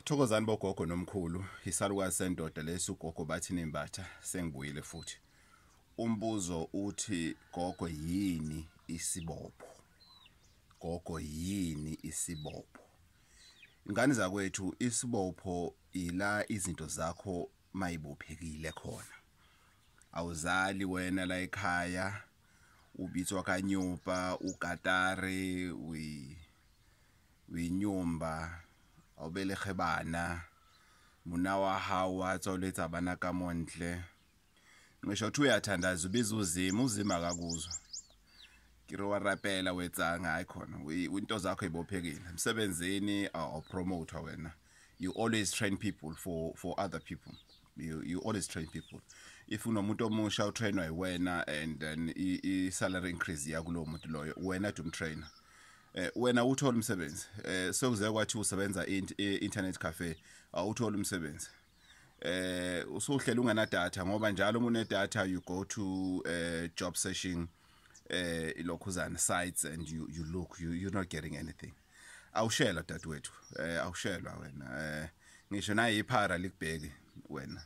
Thokozani bogogo nomkhulu isalukazi sendoda lesi ugogo bathi nembatha sengibuyile futhi umbuzo uthi gogo yini isibopho gogo yini isibopho ingane zakwethu isibopho ila izinto zakho mayibophekile khona awuzali wena la ekhaya ubitswa kanyupa ugatare we uyinyumba awubelege bana muna wa hao wa tswaletsa bana ka montle ngisho ukuthi uyathandaza ubiza uzima uzima akakuzwa kiri wa rapela wetsanga hayi khona into zakho ibophekile emsebenzini awupromotwa wena you always train people for, for other people you, you always train people if unomuntu omusha utrainwa yiwena and then i-salary increase yakulowo muntu loyo wena to umtrainer eh wena uthola umsebenzi eh sekuze kwathi usebenza internet cafe awuthola umsebenzi eh usuhlela ungena data ngoba njalo uma une data you go to eh job searching eh ilokhuzana sites and you you look you you're not getting anything awushelwa dadewethu eh awushelwa wena eh ngisho naye iphara likubheki wena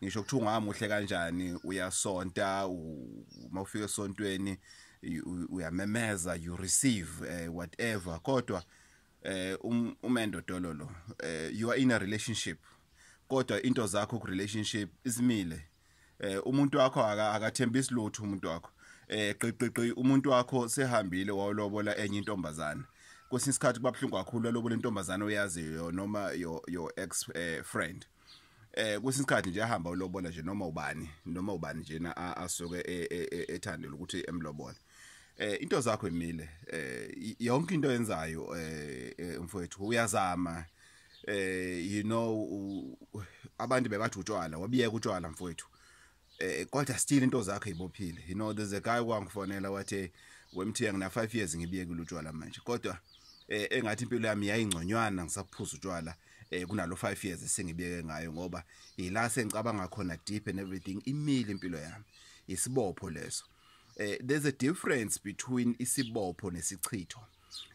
ngisho ukuthi ungamuhle kanjani uyasonta uma ufika esontweni uyamemeza you receive uh, whatever kodwa eh um, umendo dololo eh you are in a relationship kodwa into zakho ku relationship izimile eh umuntu wakho akathembisi lutho umuntu wakho eh qiqiqi umuntu wakho sehambile wawlobola enye intombazana kwesinye isikhathi kuba buhlungu kakhulu alobola intombazana oyaziyo noma your your ex eh, friend eh kwesinye isikhathi nje ahamba ulobola nje noma ubani noma ubani nje na asuke e, e, e, ethandela ukuthi emlobola eh into zakho emile eh yonke into yenzayo eh, eh mfowethu uyazama eh you know abantu bebathi utshwala wabiyeka utshwala mfowethu eh kodwa still into zakhe ibophile you know there's a guy wangifonela wathi wemthiya ngina 5 years ngibiyekile utshwala manje kodwa eh engathi impilo yami yayingconywana ngisaphuza utshwala eh kunalo 5 years esengibiyeke ngayo ngoba ila sengicabanga khona deep and everything imile impilo yami isibopho leso eh there's a difference between isibopho nesichitho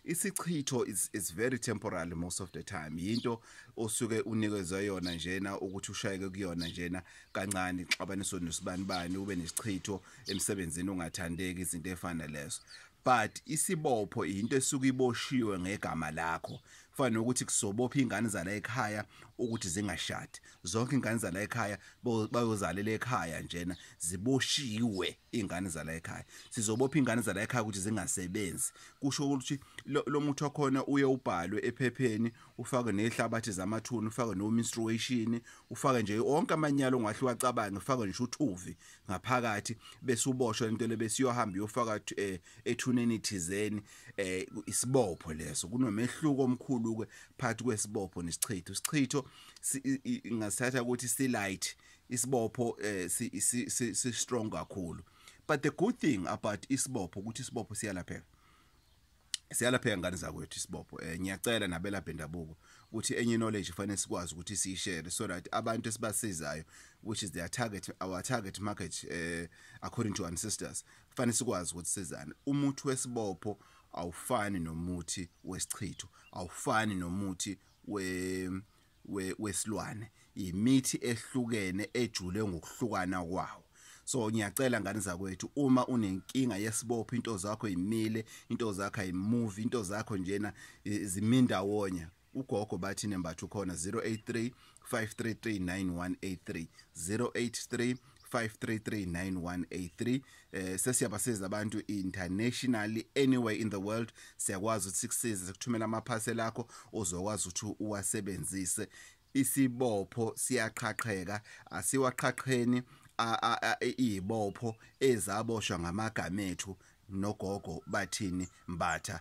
isichitho is, is very temporary most of the time yinto osuke unikezwe yona njena ukuthi ushayeke kuyona njena kancane ixabaniso nesibani bani ube nesichitho emsebenzini ungathandeki izinto efana lezo but isibopho into esuke iboshiwe ngegama lakho kufanele ukuthi kusobopha ingane zala ekhaya ukuthi zingashadi zonke ingane zala ekhaya bayozalela ekhaya njena ziboshiwe ingane zala ekhaya sizobopha ingane zala ekhaya ukuthi zingasebenzi kusho ukuthi lo muthi wakhona uye ubhalwe ephepheni ufake nehlabathi zamathuna ufake no menstruation ufake nje onke amanyalo ongahle wacabange ufake nje uthuvi ngaphakathi bese uboshwe into le bese iyohamba iyofaka eh, ethuneni thizeni eh, isibopho leso kunomehluko omkhulu ke phakathi kwesibopho nesichitho isichitho ngasithatha ukuthi si light isibopho eh, si, si, si, si strong kakhulu but the good thing about isibopho ukuthi isibopho siyalapheka siyalapheka ngane zakwethu isibopho eh ngiyacela nabela bendabuko ukuthi enye knowledge fanele sikwazi ukuthi siyishare so that abantu esibasizayo which is their target our target market eh according to ancestors fanele sikwazi ukuthi sizane umuthi wesibopho awufani nomuthi wesichitho awufani nomuthi we wesilwane yimithi ehlukene ejule ngokuhlukana kwawo so ngiyacela ngane zakwethu uma unenkinga yesibopho into zakho imile into zakho ayimuvi into zakho njena zimindawonye ugogo bathi nembatho khona 083 533 9183 083 5339183 eh sesiyabasiza abantu internationally anywhere in the world siyakwazi ukuthi sikusize sikuthumela ama parcel akho uzokwazi ukuthi uwasebenzise isibopho siyaqhaqheka asiwaqhaqheni izibopho ezaboshwa ngamagama ethu nogogo bathini mbatha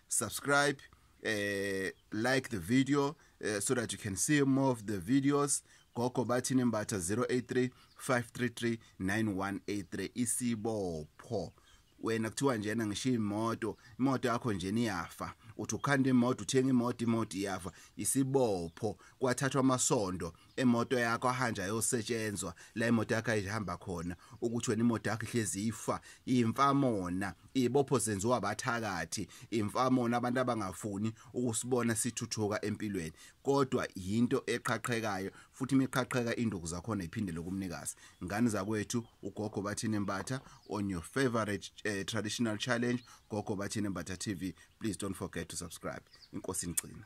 subscribe uh, like the video uh, so that you can see more of the videos gogo bathi nembatha 083 533 9183 isibopho wena kuthiwa njena ngishiya imoto imoto yakho njena iyafa uthi ukhanda imoto uthenga imoto imoto iyafa isibopho kwathathwa amasondo imoto yakho ahanje ayosetshenzwa la imoto yakho ayihamba khona ukuthi wena imoto yakho ihlezi ifa imfamona ibopho zenziwa abathakathi imfamona abantu abangafuni ukusibona sithuthuka empilweni kodwa yinto eqhaqhekayo futhi imiqhaqheka induku zakhona iphindele kumnikazi ngani zakwethu ugogo bathini mbatha on your favorite uh, traditional challenge gogo bathini mbatha tv please don't forget to subscribe inkosi ngcina